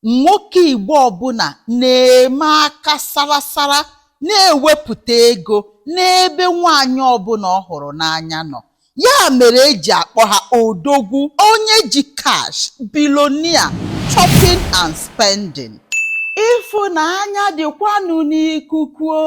nwoke Igbo ọbụla na-eme aka sarasara na-ewepụta ego n'ebe nwaanyị ọbụla ọ hụrụ n'anya nọ ya mere eji akpọ ha odogwu onye ji cash bilonia shopping and spending ịfụnanya dịkwanụ n'ikuku o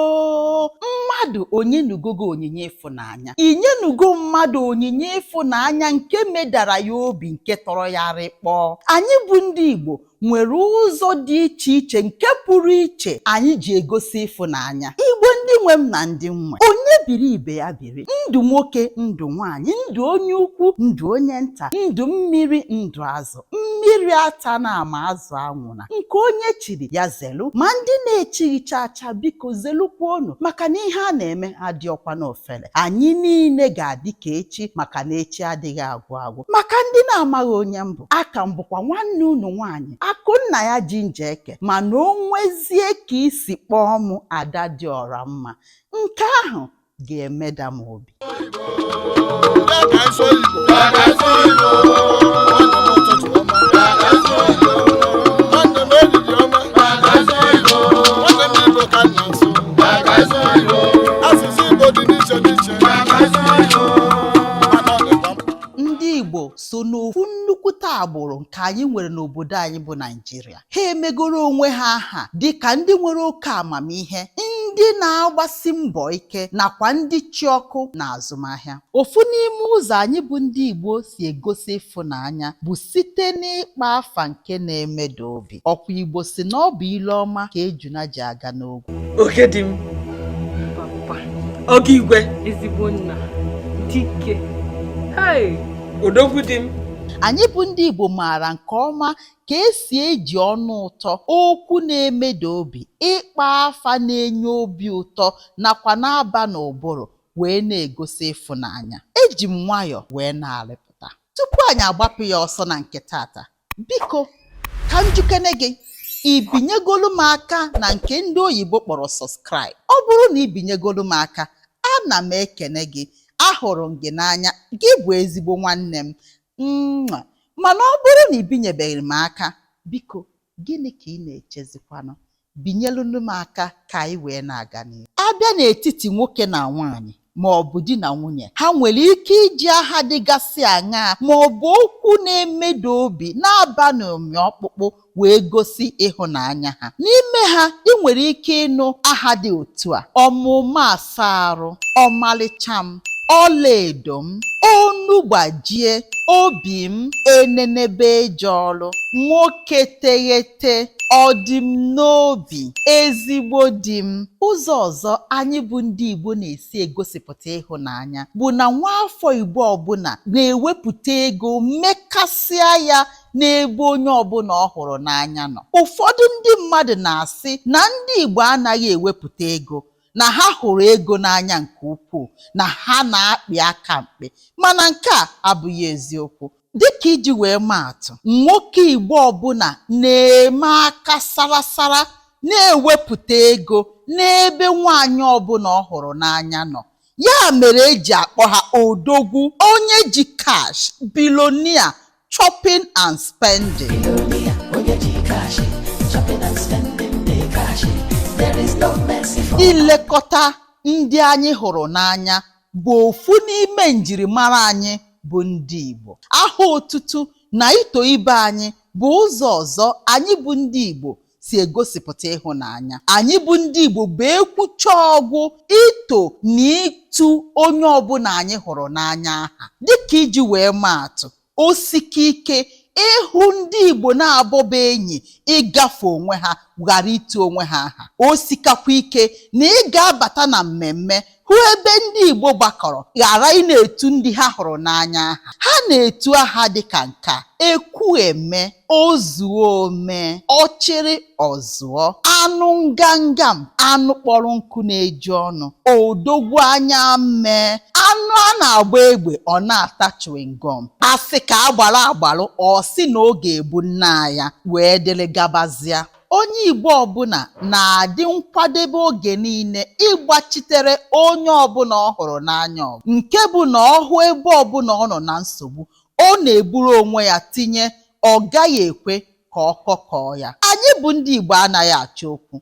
mmadụ o nyenugo gị onyinye ịfụnanya ịfụnanya. I nyenugo mmadụ onyinye ịfụnanya nke medara ya obi nke tọrọ ya rịkpọọ. Anyị bụ ndị Igbo nwere ụzọ dị iche iche nke pụrụ iche anyị ji egosi ịfụnanya. Igbo ndị nwe m na ndị m nwe, onye biri ibe ya biri, ndụ nwoke, ndụ nwaanyị, ndụ onye ukwu, ndụ onye nta, ndụ mmiri, ndụ azụ. mmiri atana ma azụ anwụna nke onye chiri ya zelu ma ndị na-echighị chacha biko zelukwa unu maka na ihe a na-eme adịọkwa n'ofele anyị niile ga-adị ka echi maka na echi adịghị agwụ agwụ maka ndị na-amaghị onye m bụ aka m bụkwa nwanne unu nwaanyị akụnna ya ji njeke mana o nwezie ka i si kpọọ m ada dị ọra mma nke ahụ ga-emeda m obi ndị Igbo so n'ofu nnukwute agbụrụ nke anyị nwere n'obodo anyị bụ Naịjirịa ha emegoro onwe ha aha dị ka ndị nwere oke amamihe ndị na-agbasi mbọ ike nakwa ndị chị ọkụ n'azụmahịa ofu n'ime ụzọ anyị bụ ndị Igbo si egosi ịfụnanya bụ site n'ịkpọ afa nke na-emeda obi ọ kwa Igbo sị na ọ bụ ile ọma ka ejuna ji aga n'ogwu oke di m oge igwe ezigbo nna dike odogwu di m anyị bụ ndị Igbo maara nke ọma ka esi eji ọnụ ụtọ, okwu na-emeda obi, ịkpọ afa na-enye obi ụtọ nakwa na-aba n'ụbụrụ wee na-egosi ịfụnanya. Eji m nwayọ wee na-arịpụta. Tupu anyị agbapụ ya ọsọ na nke taata, biko ka m jụkene gị, i binyegolu m aka na nke ndị oyibo kpọrọ subscribe? Ọ bụrụ na i binyegolu m aka, ana m ekene gị, ahụrụ m gị n'anya, gị bụ ezigbo nwanne m. Nnwa, mana ọ bụrụ na i binyebeghị m aka, biko gịnị ka ị na-echezikwanụ? Binyelunu m aka ka anyị wee na-aga n'ihu. A bịa n'etiti nwoke na nwaanyị ma ọ bụ di na nwunye, ha nwere ike iji aha dịgasị aṅaa ma ọ bụ okwu na-emeda obi na-aba n'ụmị ọkpụkpụ wee gosi ịhụnanya ha. N'ime ha, ị nwere ike ịnụ aha dị otu a, Ọmaụma asa arụ, ọmalịcha m, ọlaedo m, onu gbajie, obi m, enenebe eje ọlụ, nwoke teghete, ọ dị m n'obi, ezigbo di m. Ụzọ ọzọ anyị bụ ndị Igbo na-esi egosipụta ịhụnanya bụ na nwaafọ Igbo ọbụla na-ewepụta ego mekasịa ya n'ebe onye ọbụla ọ hụrụ n'anya nọ. Ụfọdụ ndị mmadụ na-asị na ndị Igbo anaghị ewepụta ego, na ha hụrụ ego n'anya nke ukwuu, na ha na-akpị aka mkpị. Mana nke a abụghị eziokwu. Dịka iji wee maa atụ, nwoke Igbo ọbụla na-eme aka sarasara na-ewepụta ego n'ebe nwaanyị ọbụla ọ hụrụ n'anya nọ. Ya mere e ji akpọ ha odogwu, onye ji cash, billionaire, Chopping and spending. Ilekọta ndị anyị hụrụ n'anya bụ ofu n'ime njirimara anyị bụ ndị Igbo. Aha otutu na ito ibe anyị bụ ụzọ ọzọ anyị bụ ndị Igbo si egosipụta ịhụnanya anyị bụ ndị Igbo bụ e kwucha ọ gwụ ito na itu onye ọbụla anyị hụrụ n'anya aha dịka iji wee maa atụ o sika ike ịhụ ndị Igbo naabọ bụ enyi ịgafe onwe ha ghara itu onwe ha aha o sikakwa ike na ị ga-abata na mmemme hụ ebe ndị Igbo gbakọrọ ghara ị na-etu ndị ha hụrụ n'anya aha ha na-etu aha dịka nke a ekwu eme ozuo ome ọchịrị ọzụọ anụ nganga m anụ kpọrọ nkụ na-eju ọnụ odogwu anya mmee anụ a na-agba egbe ọ na-ata chewing-gum a sị ka a gbara agbalụ ọ sị na ọ ga-ebu nnaa ya wee dịrị gabazịa Onye Igbo ọbụla na-adị nkwadebe oge niile ịgbachitere onye ọbụla ọ hụrụ n'anya ọgụ nke bụ na ọ hụ ebe ọbụla ọ nọ na nsogbu, ọ na-eburu onwe ya tinye ọ gaghị ekwe ka ọkọ kọọ ya. Anyị bụ ndị Igbo anaghị achọ okwu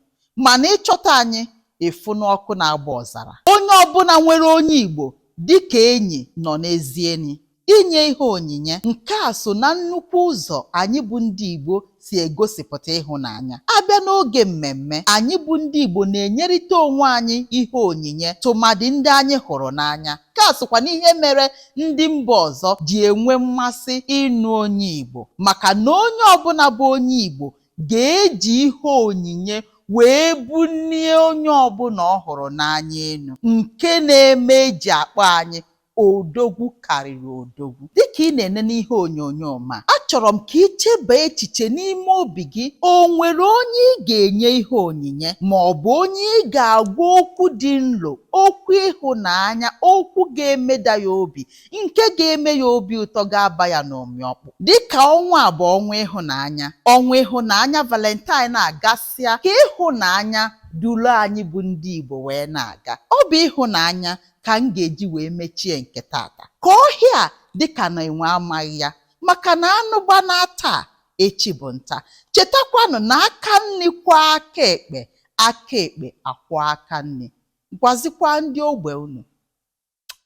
mana ị chọta anyị ị fụ na ọkụ na-agba ọzara. Onye ọbụla nwere onye Igbo dịka enyi nọ n'ezi enyi. Inye ihe onyinye, Nke a so na nnukwu ụzọ anyị bụ ndị Igbo si egosipụta ịhụnanya. A bịa n'oge mmemme, anyị bụ ndị Igbo na-enyerịta onwe anyị ihe onyinye tụmadị ndị anyị hụrụ n'anya. Nke a sokwa n'ihe mere ndị mba ọzọ ji enwe mmasị ịnụ onye Igbo maka na onye ọbụla bụ onye Igbo ga-eji ihe onyinye wee bulie onye ọbụla ọ hụrụ n'anya elu nke na-eme e ji akpọ anyị Odogwu karịrị odogwu. Dị ka ị na-enene ihe onyonyo m a, achọrọ m ka i chebaa echiche n'ime obi gị, o nwere onye ị ga-enye ihe onyinye ma ọ bụ onye ị ga-agwa okwu dị nro, okwu ịhụnanya, okwu ga-emeda ya obi, nke ga-eme ya obi ụtọ ga-aba ya n'ụmị ọkpụ. Dị ka ọnwa a bụ ọnwa ịhụnanya, ọnwa ịhụnanya Valentine a gasịa, ka ịhụnanya duru anyị bụ ndị Igbo wee na-aga. Ọ bụ ịhụnanya ka m ga-eji wee mechie nke taata ka ọhịa dị ka na enwe amaghị ya maka na anụ gbanaa taa echi bụ nta chetakwanụ na aka nri kwọọ aka ekpe aka ekpe akwọọ aka nri gwazikwa ndị ogbe unu